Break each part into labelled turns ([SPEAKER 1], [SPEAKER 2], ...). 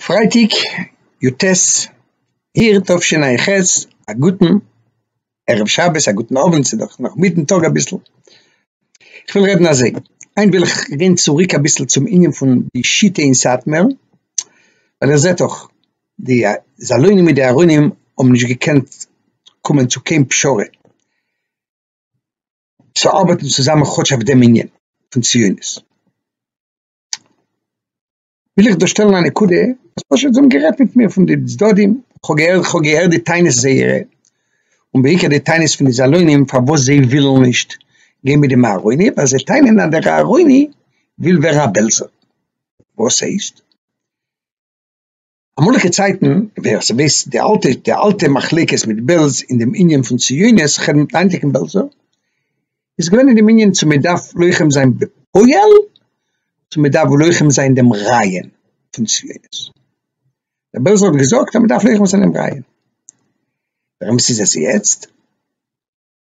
[SPEAKER 1] פרייטאג יו ט אייר תשע ע ח, א גוטן ערב שבת, א גוטן אוונט, ס'איז דאך נאך מיטן טאג אביסל, כ'וויל רעדן אזוי, היינט וויל איך גיין צוריק אביסל צום ענין פון די שיטה אין סאטמער, ווייל איר זעט דאך די זאלוינים מיט די ארונים האבן נישט געקענט קומען צו קיין פשרה. צו ארבעטן צוזאמען כאטש אויף דעם ענין פון ציונות, וויל איך דא שטעלן א נקודה וואס פשוט זיי האבן גערעדט מיט מיר פון די צדדים, כ'האב געהערט כ'האב געהערט די טענות זייערע, און בעיקר די טענות פון די זאלוינים פארוואס זיי ווילן נישט גיין מיט דעם אהרוני, ווייל זיי טענה'ן אז דער אהרוני וויל ווערן א בעלזער, וואס הייסט? אמאליגע צייטן ווער ס'ווייסט די אלטע די אלטע מחלוקת מיט בעלז אין דעם ענין פון ציונות חרם מיט היינטיגן בעלזער איז געווען אין דעם ענין צו מען דארף לוחם זיין בפועל צו מען דארף לוחם זיין דעם רעיון פון ציונות. דער בעלזער האט געזאגט אז מען דארף לוחם זיין דעם רעיון. ווער עמעס איז עס יעצט?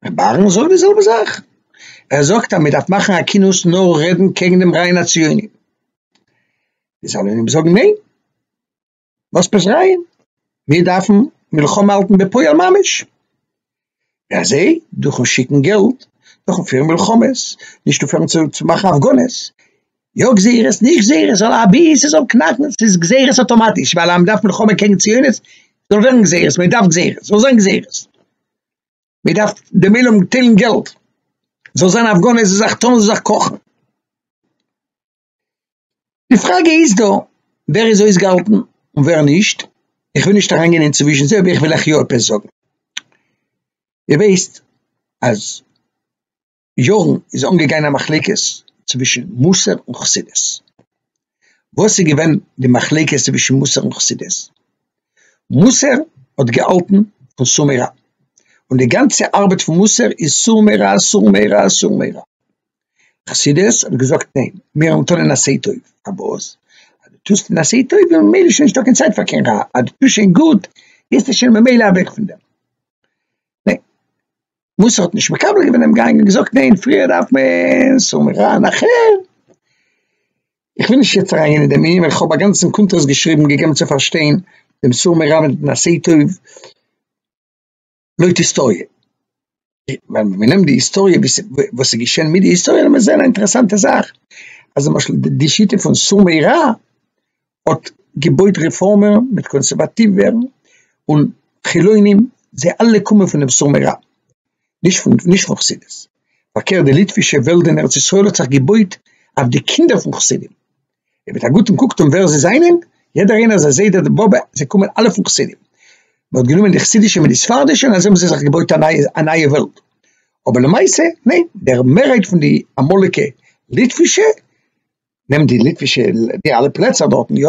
[SPEAKER 1] ר' אהרן זאגט די זעלבע זאך, ער זאגט אז מען דארף מאכן א קינות נאר רעדן קעגן דעם רעיון הציוני, די סאלונים'ס זאגן ניין, וואס פארא רעיון, מיר דארפן מלחמה האלטן בפועל ממש, ווי אזוי, דורכ'ן שיקן געלט, דורכ'ן פירן מלחמות, נישט אויפהערן צו מאכן הפגנות, יא גזירות נישט גזירות זאל אבי ס'זאל קנאקן, ס'איז גזירות אטאמאטיש ווייל אז מען דארף מלחמה קעגן ציונות, זאל ווערן גזירות, מען דארף גזירות, זאל זיין גזירות. מען דארף דעם עולם טיילן געלט, זאל זיין הפגנה זאל זיך טון זאל זיך קאכן, די פראגע איז דא ווער איז אויסגעהאלטן און ווער נישט, איך וויל נישט אריינגיין אינצווישן זיי אבער איך וויל אייך יא עפעס זאגן, איר ווייסט אז. יארן איז אנגעגאנען א מחלוקת צווישן מוסר און חסידות, וואס איז געווען די מחלוקת צווישן מוסר און חסידות? מוסר האט געהאלטן פון סור מרע, און די גאנצע ארבעט פון מוסר איז סור מרע סור מרע סור מרע, חסידות האט געזאגט ניין מיר האבן טון און עשה טוב, פארוואס? אז דו טוסט און עשה טוב איז ממילא שוין נישטא קיין צייט פאר קיין רע, אז דו טוסט שוין גוט ביסטו שוין ממילא אוועק פון דעם, ניין וואס האט נישט מקבל געווען דעם גאנג און געזאגט ניין פריער דארף מען סומכן אחר. איך וויל נישט יעצט אריין גיין אין דעם ענין ווייל איך האב א גאנצן קונטרס געשריבן געגעבן צו פארשטיין דעם סור מרע מיט דעם עשה טוב לויט היסטאריע. ווען מען נעמט די היסטאריע ווי ס'איז וואס איז געשען מיט די היסטאריע וועט מען זען א אינטערעסאנטע זאך אז למשל די שיטה פון סור מרע האט געבויט רעפארמער מיט קאנסערוואטיווער און חילונים זיי אלע קומען פון דעם סור מרע נישט פון נישט פון חסידות פארקערט די ליטווישע וועלט אין ארץ ישראל האט זיך געבויט אויף די קינדער פון חסידים אויב מיט א גוטן קוקט אן ווער זיי זענען יעדער איינער זיי זיידע די באבע זיי קומען אלע פון חסידים מען האט גענומען די חסידישע מיט די ספרדישע און אזוי האבן זיי זיך געבויט א נייע א נייע וועלט אבער למעשה ניין דער מערהייט פון די אמאליגע ליטווישע נעמט די ליטווישע, די אלע פלעצער דארטן, יא,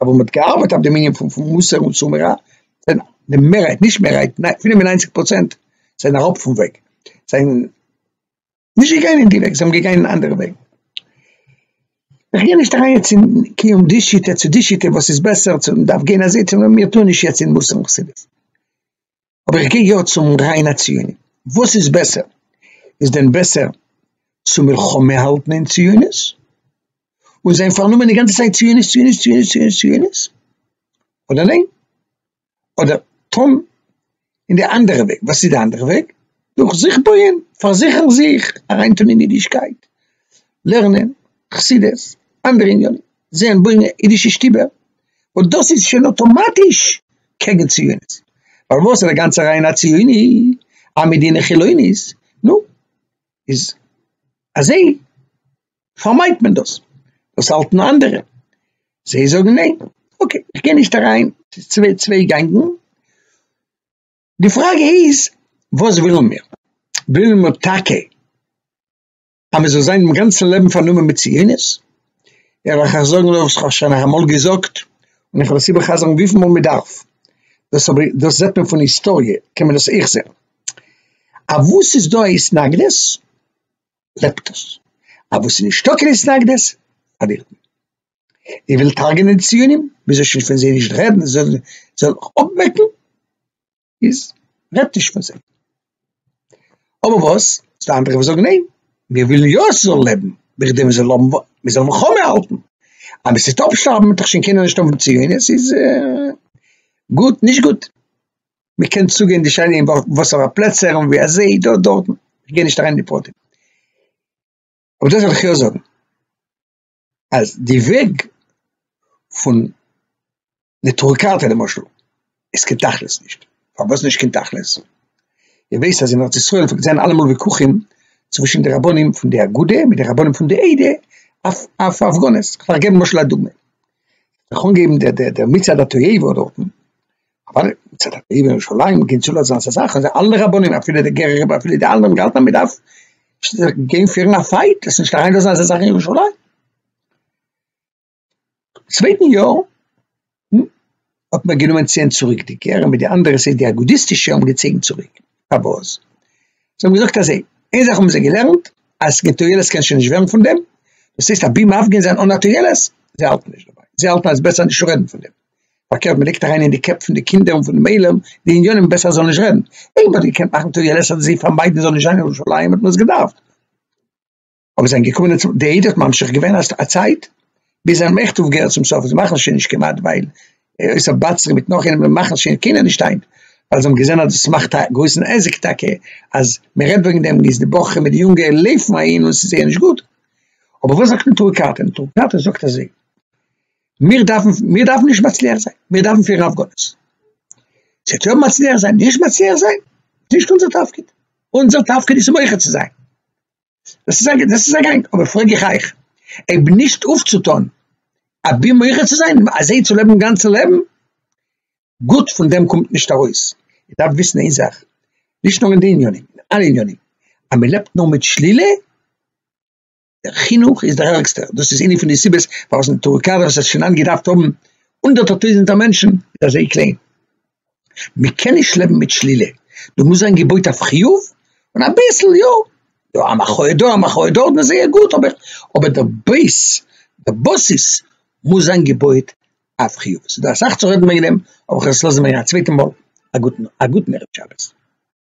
[SPEAKER 1] אבער מ'האט געארבעט אויף די מנין פון פון מוסר און צמרא, זענען די מערהייט, נישט מערהייט, פינף און ניינציג פראצענט זענען אראפ פון וועג, זענען נישט געגאנגען אין די וועג, זיי האבן געגאנגען אין אנדערע וועגן. איך גיי נישט אריין יעצט אין קיום די שיטה צו די שיטה וואס איז בעסער, צו מ'דארף גיין אזוי צו מיר טוהן נישט יעצט אין מוסר און חסידות. אבער איך גיי יא צום ריינע ציוני, וואס איז בעסער? איז דען בעסער צו מלחמה האלטן אין ציונות און זיין פארנומען די גאנצע צייט ציונות ציונות ציונות ציונות ציונות, אדער ניין? אדער טון אין די אנדערע וועג, וואס איז די אנדערע וועג? דורך זיך בויען, פארזיכערן זיך, אריינטון אין אידישקייט, לערנען, חסידות, אנדערע עניינים, זען בויען אידישע שטיבער, וואס דאס איז שוין אוטומאטיש קעגן ציונות, פארוואס איז א גאנצע רייען א ציוני, א מדינה חילונית, נו, איז אזוי פארמיידט מען דאס, דאס האלטן אנדערע, זיי זאגן ניין, אקעי, איך גיי נישט אריין, ס'איז צוויי צוויי גענגן, די פראגע איז וואס ווילן מיר, ווילן מיר טאקע. אז מען זאל זיין דעם גאנצן לעבן פארנומען מיט ציונות, איך וועל אייך זאגן וואס איך האב שוין אמאל געזאגט, און איך וועל עס איבער חזר'ן וויפיל מאל מען דארף, דאס האב איך, דאס זעט מען פון היסטאריע, קען מען דאס אויך זען, אויף וואס ס'איז דא א התנגדות, לעבט עס, אויף וואס ס'איז נישטא קיין התנגדות, פארלירט מען. איר ווילט הרג'נען די ציונים, מען זאל שוין פון זיי נישט רעדן, זיי זאלן זיך אויפוועקן. איז רעדט נישט פון זיי. אבער וואס איז די אנדערע וואס זאגן ניין, מיר ווילן יא עס זאל לעבן, בכדי מען זאל האבן, מען זאל מלחמה האלטן, אז מען טוט אפשטארבן וועט דאך שוין קיינער נישט האבן ציונות, עס איז גוט, נישט גוט, מען קען צוגיין די שיינע אין וואסערע פלעצער און ווי אזוי דא דארטן, איך גיי נישט אריין אין די פרטים. אבער דאס וועל איך יא זאגן. אז די וועג פון נטורי קרתא למשל איז קיין תכלית נישט, פארוואס נישט קיין תכלית? איר ווייסט אז אין ארץ ישראל פלעגט זיין אלעמאל וויכוחים צווישן די רבנים פון די אגודה מיט די רבנים פון די עדה אויף אויף הפגנות, כ'וועל געבן למשל א דוגמא, כ'האב אנגעהויבן דער דער דער מצעד התועבה דארטן אבער מצד הטבע ירושלים גענט שולע זיין ס'איז זאכן זיי אלע רבנים אפילו די גערער רבי אפילו די אלע האבן געהאלטן אז מ'דארף גיין פירן א פייט עס נישט אריין לאזן אזא זאך אין ירושלים צווייטן יאר האט מען גענומען ציען צוריק די גערער מיט די אנדערע סייט די אגודיסטישע האבן געצויגן צוריק פארוואס זיי האבן געזאגט אזוי איין זאך האבן זיי געלערנט אז קיין תועלת קען שוין נישט ווערן פון דעם דאס הייסט אבי מפגין זיין אן א תועלת זיי האלטן נישט דערביי זיי האלטן אז עס איז בעסער נישט צו רעדן פון דעם פארקערט מען לייגט אריין אין די קעפ פון די קינדער און פונעם עולם די עניינים בעסער ער זאל נישט רעדן, אויב מען האט געקענט מאכן טויער לעסער די זיי פארמיידן ער זאל נישט זיין אין ירושלים האט מען עס געדארפט, אבער זיי זענען געקומען און די עדה האט ממשיך געווען א צייט ביז זיי האבן עכט אויפגעהערט צום סוף זיי מאכן עס שוין נישט כמעט ווייל אויסער באצרי מיט נאך איינעם מאכן עס שוין קיינער נישט היינט ווייל זיי האבן געזען אז עס מאכט א גרויסן עסק טאקע אז מען רעדט וועגן דעם איז די בחורים מיט די יונגע לויפן אהין און עס איז זייער נישט גוט, אבער וואס זאגט נטורי קרתא? נטורי קרתא זאגט אזוי. מיר דארפן מיר דארפן נישט מצליח זיין מיר דארפן פיר אויף גאנץ זיי טויב מצליח זיין נישט מצליח זיין נישט אונזער תפקיד אונזער תפקיד איז מויכע צו זיין דאס איז דאס איז אגענג אבער פרעג איך אייך אייב נישט אויפצוטון א בי מויכע צו זיין אזוי צו לעבן גאנצע לעבן גוט פון דעם קומט נישט ארויס איך דארף וויסן איין זאך נישט נאר אין די עניינים אלע עניינים אז מען לעבט נאר מיט שלילה דער חינוך איז דער ערגסטער, דאס איז איינע פון די סיבות פארוואס אין טורקיי וואס האט שוין היינט געדארפט האבן הונדערטער טויזנטער מענטשן איז אזוי קליין, מען קען נישט לעבן מיט שלילה, דא מוז זיין געבויט אויף חיוב, און אביסל יא, יא א מחאה דא א מחאה דארט איז זייער גוט, אבער אבער דער בעיס, דער באסיס מוז זיין געבויט אויף חיוב, ס'איז דא אסאך צו רעדן וועגן דעם, אבער כ'וועל עס לאזן וועגן א צווייטע מאל, א גוטן א גוטן ערב שבת.